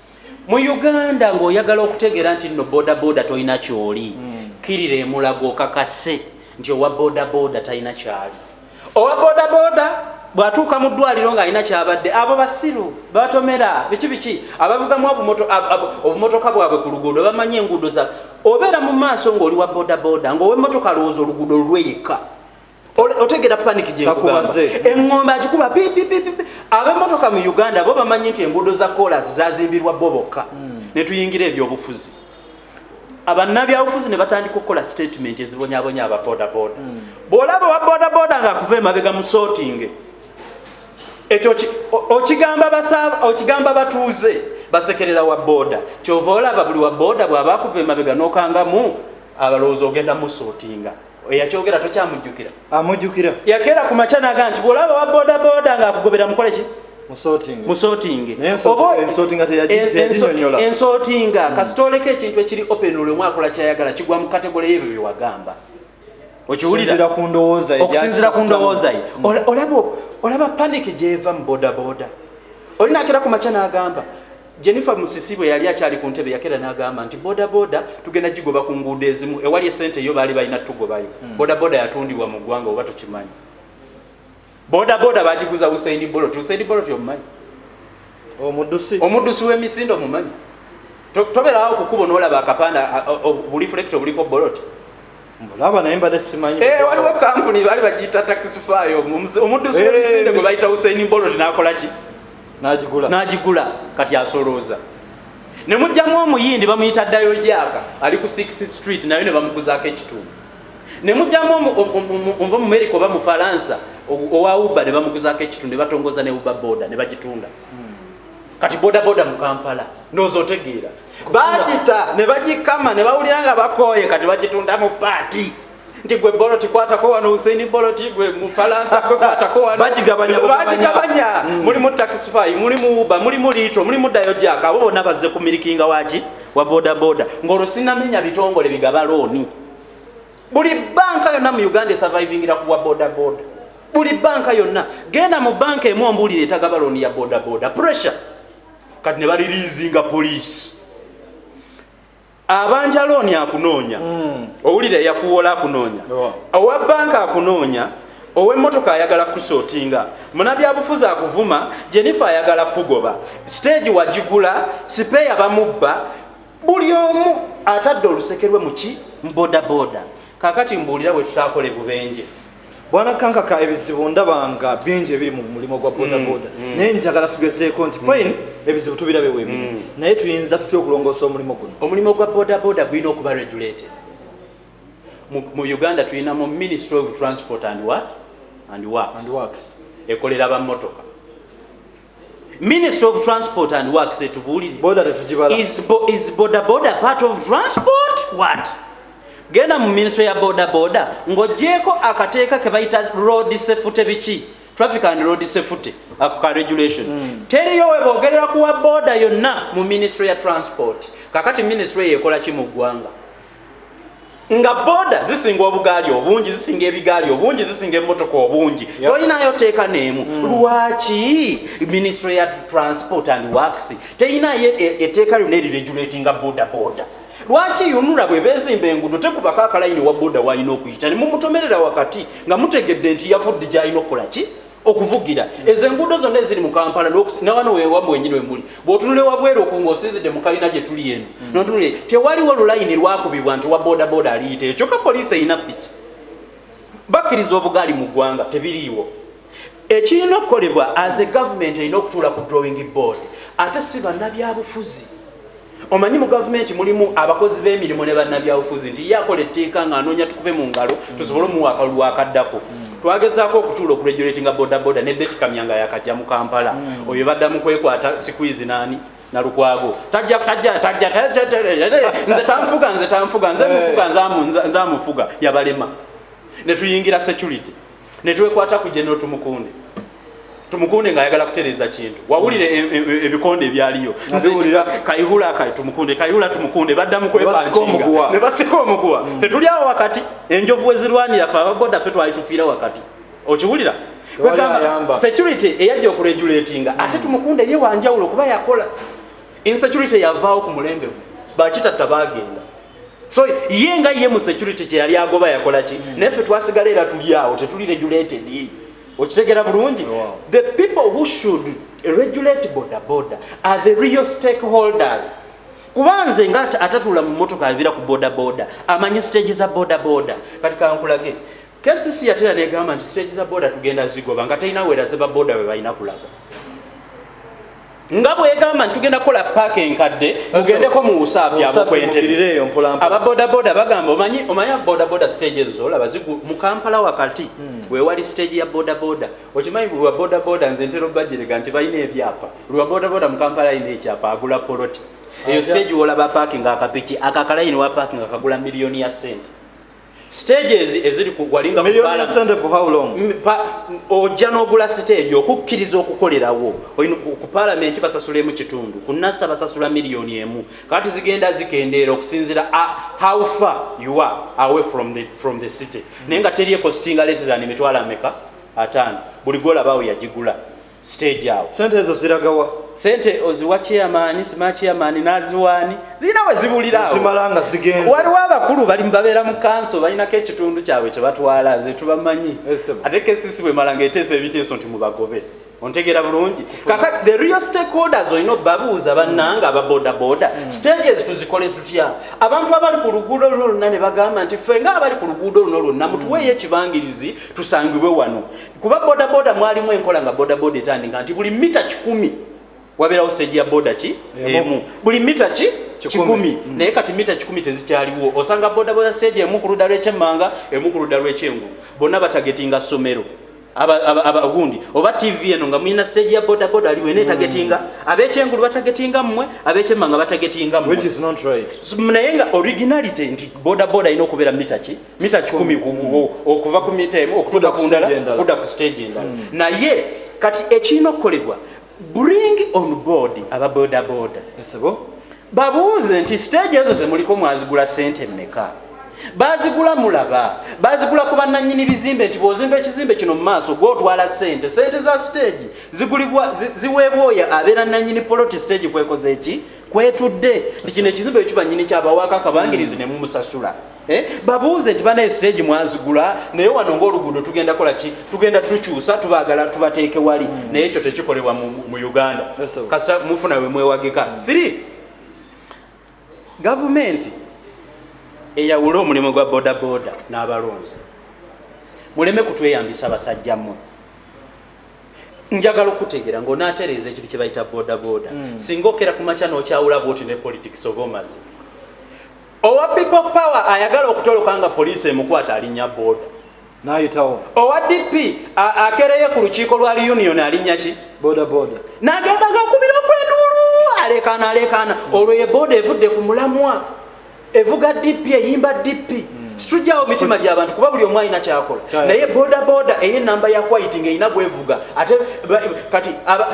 mu uganda ng'oyagala okutegeera nti nno bodaboda tolina kyoli hmm. kirira emulago okakase nti owa bodaboda talina kyali owa bodaboda bw'atuuka mu ddwaliro ng'alina kyabadde abo basiru batomera biki biki abavugamu obumotoka bwabwe ku luguudo bamanyi enguudo za obeera mu maaso ng'oli wa bodaboda ng'owemmotoka alowooza oluguudo lulweyekka otegera panic gyekugamba engombe agikuba abemotoka mu uganda bo bamanyi nti enguudo za kolas zazimbirwa bo bokka hmm. netuyingira ebyobufuzi abanabyabufuzi ne batandika okukola statement ezibonyabonya aba bodaboda hmm. bwolaba owa bodaboda nga akuva emabega musotinge ekyo okigamba batuuze basekerera wa boda kyova olaba buli wa boda bwaba akuva emabega nokangamu abalowoozi ogenda musotinga eyakyogera tokyamujjukira amujjukira yakeera ku makya naga nti bwolaba wa bodaboda nga akugobera mukole ki musotingensotinga hmm. kasita oleka ekintu ekiri open olwe mwakola kyayagala kigwa mu kategole yebyo byewagamba okiwulira ku ndowooza okusinzira ku ndowooza ye hmm. olaba panik gyeva mu bodaboda olinakeera ku makya nagamba Jennifer Musisi bwe yali akyali ku ntebe yakera n'agamba nti bodaboda tugenda gigoba ku nguudo ezimu ewali essente yo baali balina tugobayo. Hmm. Bodaboda yatundibwa mu ggwanga oba tokimanyi. Bodaboda bagiguza Usain Bolt. Usain Bolt omumanyi? Omuddusi. Omuddusi w'emisinde omumanyi? Toberawo ku kubo n'olaba akapanda obulifulekita obuliko Bolt. mbulaba naye mbadde simanyi eh, waliwo kampuni baali bagiyita taxify omuddusi wemisinde eh, gwe bayita husaini bolodi nakola ki nagigula nagigula kati asolooza ne mujjamu omuyindi bamuyita ddayo gyaka ali ku 6th street naye ne bamuguzaako ekitundu ne mujjamu omuva mu merika oba mu faransa owa uba ne bamuguzaako ekitundu ne batongoza ne uba boda ne bagitunda hmm. kati bodaboda mu kampala ndooza otegeera bagita ne bagikama ne bawulira nga bakooye kati bagitunda mu paati nti gwe boloti kwatako wano usaini boloti gwe mufalansa gwe kwatako wano bagigabanya bagigabanya mm. mulimu taxify mulimu uba mulimu litro mulimu dayojaka abo bonna bazze ku milikinga waki wa bodaboda ng'olwo sinamenya bitongole bigaba looni buli banka yonna mu uganda esurvivingira ku bwa bodaboda buli banka yonna genda mu banka emu ombuulire etagaba looni ya bodaboda pressure kati ne baliriizinga poliisi abanja looni akunoonya hmm. owulira eyakuwola akunoonya owa banka akunoonya owemmotoka ayagala kukusootinga munabyabufuzi akuvuma jenifa ayagala kukugoba siteegi wagigula sipeeya bamubba buli omu atadde olusekerwe muki mubodaboda kakati mbuulira bwe tutakola ebubenje bwana kankaka ebizibu ndabanga bingi ebiri mu mulimu gwa bodaboda mm, mm. naye njagala tugezeeko nti fine mm. ebizibu tubirabe webiri naye tuyinza tutya okulongoosa omulimu guno omulimu gwa bodaboda gulina okuba regulated mu uganda tulinamu ministry of transport and work and works ekolera bamotoka Ministry of Transport and Works etubuulire boda tetugibala is, bo, is boda boda part of transport what genda mu ministry ya boda boda ng'ogyeko akateeka ke bayita road safety biki traffic and road safety ako ka regulation mm. teriyo we boogerera kuwa boda yonna mu ministry ya transport kakati ministry eyo ekola ki mu ggwanga nga boda zisinga obugaali obungi zisinga ebigaali obungi zisinga emotoka obungi tolinayo teeka neemu mm. lwaki ministry ya transport and works teyinayo e, eteeka lyona eriregulatinga boda boda lwaki yunula bwebezimba engudo tekubako akalayini wa boda walina okuyita nemumutomerera wakati nga mutegedde nti yavudde gyalina okukolaki okuvugira ezo enguudo zonna eziri mu kampala nawano wewamwe wenyini wemuli bwotunula ewabweru oku nga osinzidde mu kalina gye tuli eno mm. notunule tewaliwo lulayini lwakubibwa nti owa bodaboda aliyita ekyo ka poliisi erina piki bakkiriza obugaali mu ggwanga tebiriiwo ekirina okukolebwa aze gavumenti erina okutuula ku drawing board ate si bannabyabufuzi Omanyi mu gavumenti mulimu abakozi b'emirimu ne bannabyabufuzi nti ye akola etteeka ng'anoonya tukube mu ngalo tusobole omuwa akalulu akaddako. Twagezaako okutuula okuregulatinga bodaboda ne Betty Kamya nga yaakajja mu Kampala. Hmm. Oyo badda mu kwekwata sikwizi n'ani? Nalukwago. Tajja, tajja, tajja, tajja, nze tanfuga, nze tanfuga, nze mufuga, nze amufuga, yabalema. Ne tuyingira security. netwekwata ku General Tumukunde Tumukunde nga ayagala kutereza kintu wawulira e, e, e, ebikonde ebyaliyo nziwulira Kayihura kay Tumukunde Kayihura Tumukunde badda mu kwepankinga ne basika omuguwa mm. tetuli awo wakati enjovu ezirwanira fe abagoda fe twali tufiira wakati okiwulira kwegamba security eyajja okuregulatinga mm. ate Tumukunde ye wanjawulo kuba yakola insecurity yavaawo ku mulembe bakitatta bagenda so ye nga ye mu security kye yali agoba yakola ki mm. naye ffe twasigala era tuli awo tetuli regulated okitegera bulungi the people who should regulate boda boda are the real stakeholders kuba nze nga atatula mu motoka abira ku boda boda amanyi stage za boda boda kati kankulage kcc yatera negamba nti stage za boda tugenda zigoba nga talina weraze ba boda we balina kulaga nga bwegamba nti tugenda kukola paaka enkadde mugendeko mu usaafi amukwentebreyo mpolampo aba bodaboda bagamba omanyi omanyi bodaboda stage ezo olaba zigu mu kampala wakati hmm. wewali stage ya bodaboda okimanyi buli wa bodaboda nze ntera obajirega nti balina ebyapa buli wa bodaboda mu kampala alina ekyapa agula poloti eyo stage wolaba paakinga akapiki akakalayini wa paakinga kagula miliyoni ya sente stages eziri kugwalinga ojja n'ogula siteegi okukkiriza okukolerawo ku palamenti basasula emu kitundu ku nasa basasula miliyoni emu kati zigenda zikendeera okusinzira how far you are away from the, from the city naye nga teri ekositinga less than emitwalo ameka ataano buli gwolabawo yagigula stage awo sente ezo ziragawa sente oziwa chairman sima chairman naziwani zina we zibulira zimalanga zigenze waliwo abakulu bali mbabeera mu kanso balinako ekitundu kyabwe kye batwala ze tubamanyi ate kesisi bwe malanga eteesa ebiteeso nti mubagobe ontegera bulungi kaka the real stakeholders olina obabuuza bannanga aba bodaboda hmm. stages tuzikole zutya abantu abali ku luguudo luno lwonna ne bagamba nti ffe nga abali ku luguudo luno lwonna mutuweeyo ekibangirizi tusangibwe wano kuba bodaboda mwalimu enkola nga bodaboda etandika nti buli mita kikumi wabeerawo stage ya boda ki emu buli mita ki kikumi mm. naye kati mita kikumi tezikyaliwo osanga bodaboda stage emu ku ludda lw'ekyemmanga emu ku ludda lw'ekyengulu bonna batagetinga ssomero abagundi oba tv eno nga mulina stage ya boda boda ali wena etagetinga mm. abekyengulu batagetinga mmwe abekyemanga batagetinga mmwe naye nga originality nti boda boda alina okubeera mita ki mita kikumi okuva ku mita emu okutuuka ku ndala kudda ku stage endala hmm. naye kati ekirina okukolebwa bring on board aba bodaboda babuuze nti stage ezo zemuliko mwazigula sente meka bazigula mulaba bazigula ku bannanyini bizimbe nti bwozimba ekizimbe kino mu maaso gwotwala sente sente za siteegi zigulibwa ziweebwa oyo abeera nanyini poloti siteegi kwekoze eki kwetudde nti kino ekizimbe ekyo banyini kyabawako akabangirizi nemumusasula Eh, babuuze nti banaye siteegi mwazigula naye wano ngaoluguudo tugenda kola ki tugenda tukyusa tubagala tubateeke wali hmm. naye ekyo tekikolebwa mu uganda kasa mufuna we mwewagika hmm. three gavumenti eyawule omulimu gwa bodaboda n'abalonzi muleme kutweyambisa abasajja mmwe njagala okutegeera ngaonaatereeza ekintu kye bayita bodaboda hmm. singa okera ku makya n'okyawula bwoti ne politics oba omazi Owa people power ayagala okutoloka nga poliisi emukwata alinya boda nayitawo. Owa DP akereye ku lukiiko lwa reunion alinya ki boda boda nagenda ngakubira okwenduulu alekaana alekaana mm. olwo ye boda evudde ku mulamwa evuga DP eyimba DP mm. situjawo mitima gyabantu kuba buli omu alina kyakola naye boda boda eye namba ya white nga erina gwevuga ate kati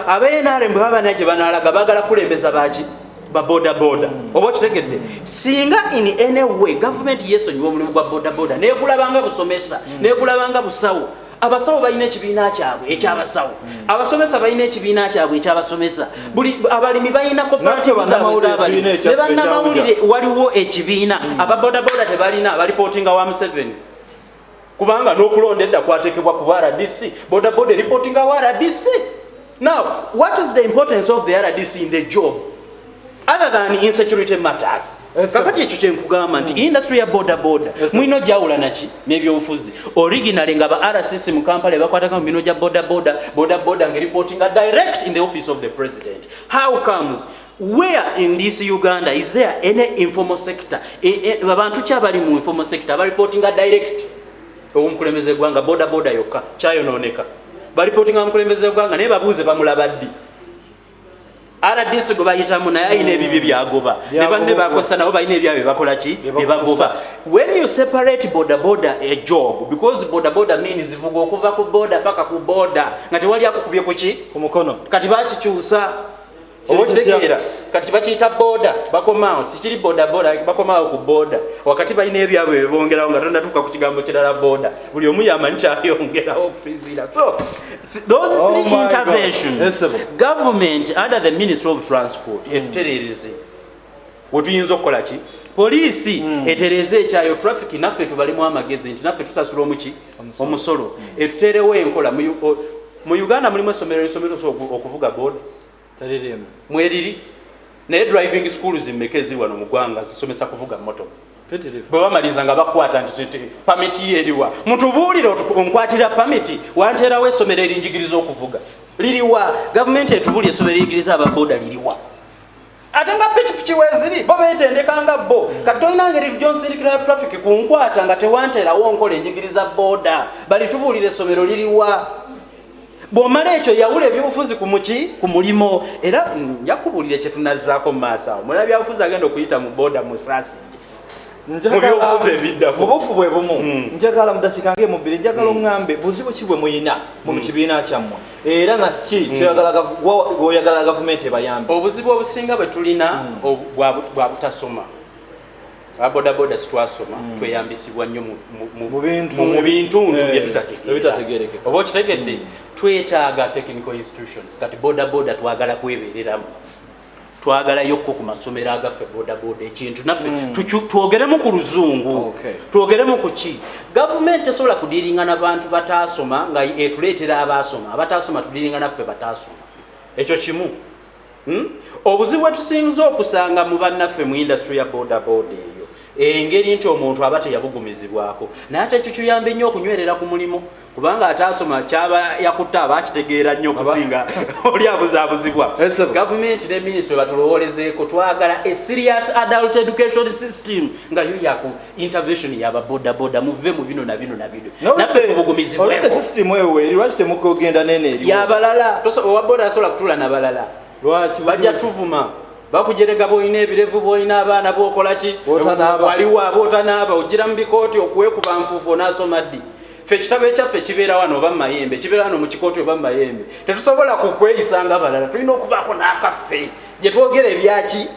aba nrm bwe baba naye gye banalaga bagala kulembeza baki babodaboda oba okitegedde singa in any way gavumenti yesonyiwa omulimu gwa bodaboda nekulabanga busomesa mm. nekulabanga busawo abasawo balina ekibiina kyabwe ekyabasawo mm. abasomesa balina ekibiina kyabwe ekyabasomesa mm. buli abalimi balina kopanebanamawulire waliwo ekibiina ababodaboda tebalina balipotinga wa museveni kubanga n'okulonda edda kwatekebwa ku rdc bodaboda eripotinga wa rdc now what is the importance of the rdc in the job other than insecurity matters kakati ekyo kyenkugamba nti industry ya bodaboda mulino gyawulanaki nebyobufuzi originally nga ba rcc mu kampala ebakwataka mu bino gya bodaboda bodaboda nga eripotinga direct in the office of the president how comes Where in this Uganda is there any informal sector? Babantu e, e, kyabali mu informal sector ba reporting a direct omukulembeze gwanga boda boda yokka kyayononeka ba reporting omukulembeze gwanga naye babuuze bamulabaddi RDC go bayitamu naye ayina ebibye mm. byagoba ne banne bakosa nabo bayina ebyabe bakola ki ebagoba when you separate boda boda a job because boda boda means zivuga okuva ku boda paka ku boda nga tewali akukubye kuki ku mukono kati bakikyusa obaokitegera kati bakiyita boda bakomaawo tikiri bodaboda bakomaawo ku boda wakati balina ebyabwe bebongerawo nga tonatuuka ku kigambo kirala boda buli omu yamanyi kyayongerawo okusinziira so those oh three oh interventions government under the ministry of transport mm. etutereereze wetuyinza okukola ki poliisi mm. etereeze ekyayo traffic naffe tubalemu amagezi nti naffe tusasula omuki omusolo mm. etuterewo enkola mu uganda mulimu esomero lisomero okuvuga boda mweriri naye driving school zimmeka eziri wano mu gwanga zisomesa kuvuga moto bwe bamaliza nga bakwata nti pamiti yo eriwa mutubuulire onkwatira pamiti wanteerawo esomero erinjigiriza okuvuga liriwa gavumenti etubuulire esomero eriyigiriza ababoda liriwa ate nga pikipiki weziri bo betendeka nga bo kati tolina ngeri tujonsilikira traffic ku nkwata nga tewanterawo nkola enjigiriza boda bali tubuulira essomero liriwa bwomala ekyo yawula ebyobufuzi ku muki ku mulimu era njakubuulire kyetunazaako mu maaso awo muna byabufuzi agenda okuyita mu boda musasi mubufu bwe bumu hmm. njagala mudakikange mubiri njagala hmm. oŋambe buzibu ki bwe muyina mu hmm. kibiina kyammwe era nakki hmm. kyoyagala gavumenti ebayambe obuzibu obusinga bwe tulina hmm. bwa butasoma abodaboda sitwasoma hmm. tweyambisibwa nnyo mu bintu eh, byetutategeereke oba okitegedde twetaaga technical institutions kati bodaboda twagala kwebereramu twagalaiokko ku masomero agaffe bodaboda ekintu naffe mm. twogeremu ku luzungu twogeremu ku ki gavumenti tesobola kudiringa na bantu bataasoma nga etuleetera abaasoma abataasoma tudiringa naffe bataasoma ekyo kimu hmm? obuzibu bwetusinza okusanga mu bannaffe mu industry ya bodaboda eyo engeri nti omuntu aba teyabugumizibwako naye ate ekyo kiyambe nnyo okunywerera ku mulimu kubanga ataasoma kyaba yakutte aba akitegeera nnyo okusinga oli abuzaabuzibwa gavumenti ne minisitry batulowolezeeko twagala a serious adult education system nga yo yaku intervention yaba bodaboda muve mu bino na bino na bino naffe tubugumizibwekoyabalala owa boda asobola kutula nabalala lwaki bajja tuvuma bakujerega boyina ebirevu boyina abaana bokolaki waliwo aba otanaaba ojira mu bikooti okuwekuba nfuufu onaasoma ddi fe ekitabo ekyaffe kibeera wano oba mumayembe kibeera wano mu kikooti oba mumayembe tetusobola kukweyisa nga balala tulina okubaako n'akaffe gye twogera ebyaki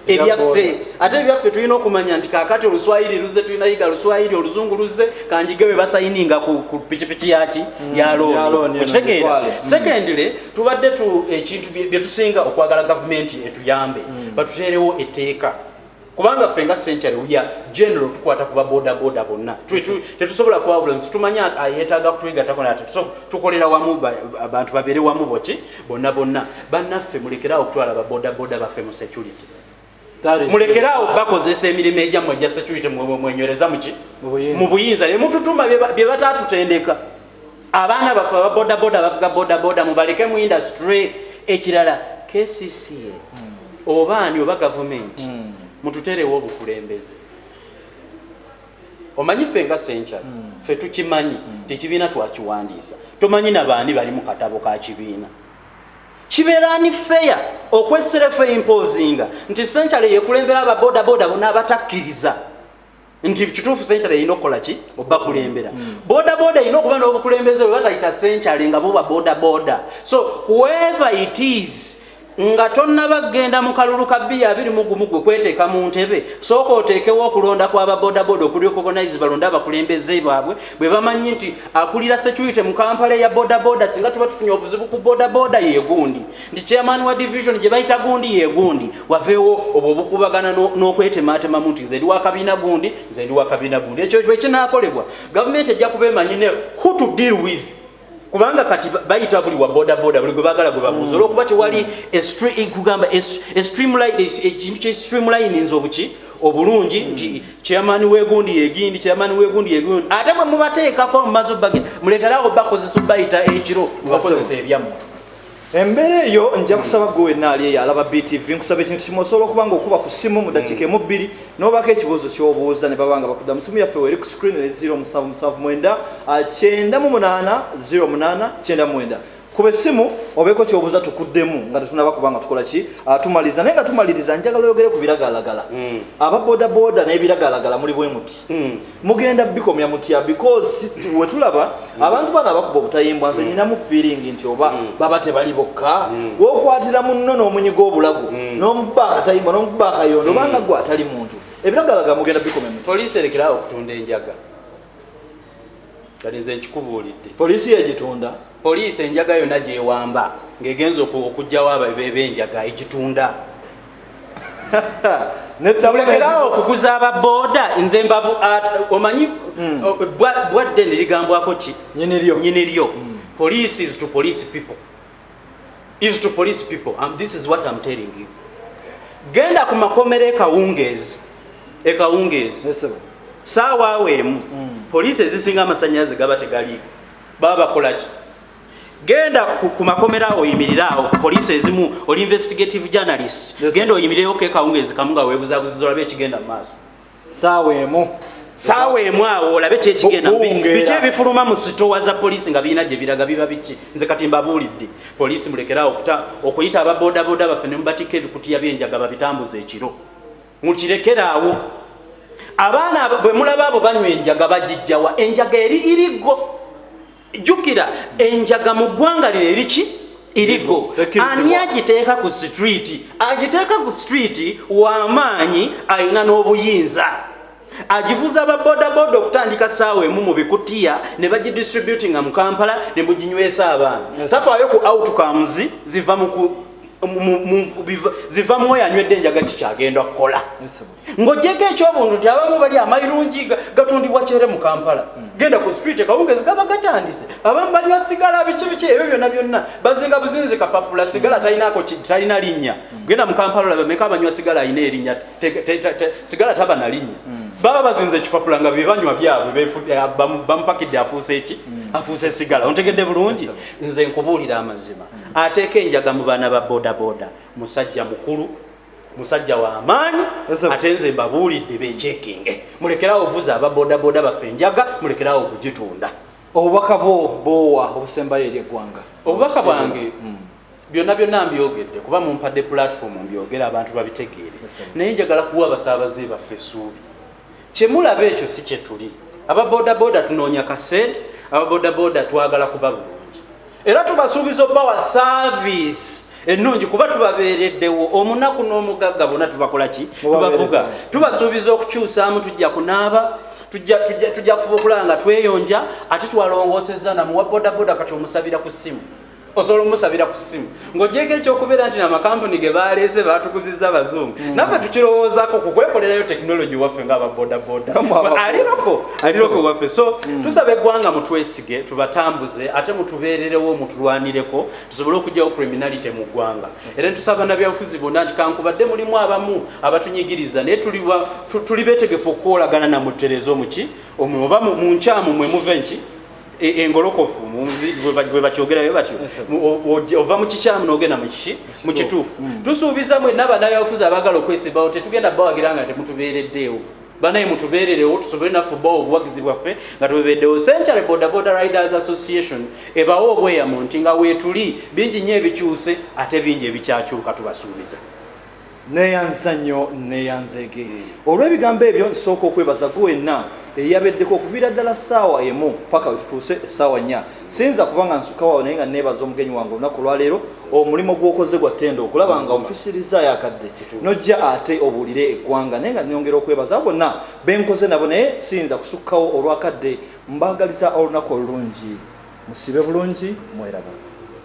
ebyaffe ate ebyaffe tulina okumanya nti kakati oluswayiri luze tulina yiga luswayiri oluzungu luze kanjige we basayininga ku pikipiki yaki mm, yalooniotegeera mm. secondly tubadde ekintu byetusinga okwagala gavumenti etuyambe mm. batuteerewo etteeka kubanga ffe nga century uya general tukwata kuba boda boda bonna tetusobola kwawula nsi tumanyi ayetaaga kutwegatako nate tukolera wamu abantu babeere wamu boki bonna bonna bannaffe mulekeraawo okutwala ba boda boda baffe mu security mulekeraawo bakozesa emirimu egyammwe egya security mwenywereza muki mu buyinza ne mututuma bye bataatutendeka abaana baffe aba bodaboda bavuga bodaboda mubaleke mu industry ekirala kcca oba ani oba gavumenti hmm. mututerewo obukulembeze omanyi ffe nga senkyal hmm. ffe tukimanyi hmm. tekibiina twakiwandiisa tomanyi nabaani bali mu katabo ka kibiina kibeerani feya okwesserefe impozinga nti senkyal yekulembera ababodaboda bona abatakkiriza nti kituufu senkyale erina okukola ki obakulembera mm. bodaboda erina okuba n'obukulembeze bwe batayita senkyale nga buba bodaboda so whoever it is nga tonnaba kugenda mu kalulu ka biya abiri mu gumu gwe kweteeka mu ntebe sooka oteekewo okulonda kwaba bodaboda okuliokogonaizi balonde abakulembeze baabwe bwe bamanyi nti akulira security mu kampala eya bodaboda singa tuba tufunye obuzibu ku bodaboda yegundi nti chairman wa division gye bayita gundi ye gundi waveewo obwo obukubagana n'okwetemaatemamu nti nze ndi wa kabiina gundi nze ndi wa kabiina gundi ekyo bwe kinaakolebwa gavumenti ejja kuba emanyi ne who to deal with kubanga kati bayita buli wa bodaboda buli gwe bagala gwe babuuza mm. olwokuba tewali kugamba ekintu kye streamlines obuki obulungi mm. nti chairman wegundi yegindi chairman wegundi yegundi ate bwe mubateekako mumaze obagenda mulekerawo bakozesa obayita ekiro mubakozesa ebyammwe embeera eyo nja kusaba gwe wenna ali eyo alaba btv nkusaba ekintu kimu osobola okuba nga okuba ku ssimu mu dakiika emu bbiri n'obaako ekibuuzo ky'obuuza ne baba nga bakudda mu simu yaffe weri ku screen ne 07799898 kuba essimu obeeko kyobuuza tukuddemu nga tetunaba kuba nga tukola ki ah, tumaliriza naye nga tumaliriza njagala oyogere ku biragalalagala mm. aba bodaboda n'ebiragalalagala muli bwe muti mm. mugenda bikomya mutya because wetulaba mm. abantu bano abakuba obutayimbwa nze mm. nyinamu feeling nti oba mm. baba tebali bokka mm. wokwatira munno n'omunyiga obulago mm. nomuba akatayimbwa nomuba akayondo mm. obanga gwe atali muntu ebiragalaga mugenda bikomya mutya poliisi erekerawo okutunda enjaga kati nze nkikubuulidde poliisi yegitunda Poliisi enjaga yonna gy'ewamba ng'egenze oku- okuggyawo ababe b'enjaga egitunda Nedda mulekerawo mulekerawo. okuguza aba boda nze mbabu at- omanyi o- bwa- bwadde nerigambwako ki Hmm. Nyini lyo. Hmm. nyini lyo police is to police people is to police people um, this is what I'm telling you genda ku makomera ekawungeezi ekawungeezi Yes, sebo. saawa awo emu Hmm. poliisi ezisinga amasanyalaze gaba tegaliiko baba bakolaki genda ku makomera oyimirire awo ku poliisi ezimu oli investigative journalist genda oyimireyo kekawungeezi kamu nga webuzabuziza olabe ekigenda mu maaso saawa emu saawa emu awo olabe kyekigenda biki ebifuluma mu sitowa za poliisi nga birina gye biraga biba biki nze kati mbabuulidde poliisi mulekeraawo okuyita ababodaboda baffe ne mubatikka ebikutiya byenjaga babitambuza ekiro mukirekeraawo abaana bwe mulaba abo banywa enjaga bagijjawa enjaga eri iriggo jjukira enjaga mu ggwanga lino eriki irigo ani agiteeka ku sitwiti agiteeka ku sitwiti w'amaanyi alina n'obuyinza agivuza ba bodaboda okutandika saawa emu mu bikutiya ne bagidistributinga mu kampala ne muginywesa abaana tafaayo ku outcomes ziva mu ziva mu oyo anywedde enjaga kikyagenda kukola ng'ogyeko ekyobuntu nti abamu bali amayirungi gatundibwa kyere mu kampala hmm. genda ku street ekawungezi gaba gatandise abamu banywa sigala biki biki ebyo byonna byonna bazinga buzinzi kapapula sigala talinaako talina linnya hmm. genda mu kampala olabameka abanywa sigala alina erinnya sigala taba na linnya hmm. baba bazinze ekipapula nga bebanywa byabwe eh, bamupakidde afuuse eki hmm. afuuse sigala ontegedde bulungi nze nkubuulira amazima hmm. ateeka enjaga mu baana ba bodaboda musajja mukulu musajja wa maanyi ate nze mbabuulidde bekyekinge mulekerawo ovuza aba bodaboda baffe enjaga mulekerawo okugitunda obubaka bwo boowa obusembayo eri eggwanga obubaka bwange Byonna byonna mbyogedde kuba mumpadde platform mbyogere abantu babitegeere naye njagala kuwa abasaabaze baffe essuubi. Kye mulaba ekyo si kye tuli. Aba bodaboda tunoonya ka ssente, aba bodaboda twagala kuba bulungi era tubasuubiza okubawa saaviisi ennungi kuba tubabeereddewo omunaku n'omugagga bona tubakola ki tubavuga tubasuubiza okukyusaamu tujja kunaaba tujja kufuba okulaba nga tweyonja ate twalongoosezza namuwa bodaboda kati omusabira ku ssimu osobola omusabira ku ssimu ng'ogyeko ekyokubeera nti namakampuni ge baleese baatukuziza abazungu mm. naffe tukirowoozako ku kwekolerayo tekinologi waffe ngaaba bodaboda aliroko aliroko waffe so mm. tusaba eggwanga mutwesige tubatambuze ate mutubeererewo mutulwanireko tusobole okugyawo criminality mu ggwanga era netusaba nabyanfuzi bonna nti kankubadde mulimu abamu abatunyigiriza naye tuli betegefu okukolagana namuttereeza omuki oba mu nkyamu mwe muve nki E, engolokofu bwebakyogerayo batyo ova mukikyamu nogenda mukiki mukituufu mm. tusuubiza mwena banayabufuzi abagala okwesimbawo tetugenda bawagira nga temutubeereddeewo banaye mutubeererewo tusobole naffe obawo obuwagizi bwaffe nga tubebeeddewo century border border riders association ebawo obweyamo nti nga weetuli bingi nnyo ebikyuse ate bingi ebikyakyuka tubasuubiza Neyanza nnyo neyanzeege olw'ebigambo ebyo. Nsooka okwebaza gwe wenna eyabeddeko okuviira ddala ssaawa emu paka wetutuuse essaawa nnya. Siyinza kuba nga nsukawo awo naye nga neebaza omugenyi wange olunaku olwaleero. Omulimu gw'okoze gwa ttendo okulaba nga onfisirizaayo akadde nojja ate obuulire eggwanga naye nga nyongera okwebaza abo bonna benkoze nabo naye siyinza kusukkawo olw'akadde. Mbaagaliza olunaku olulungi. Musiibe bulungi. Mweraba.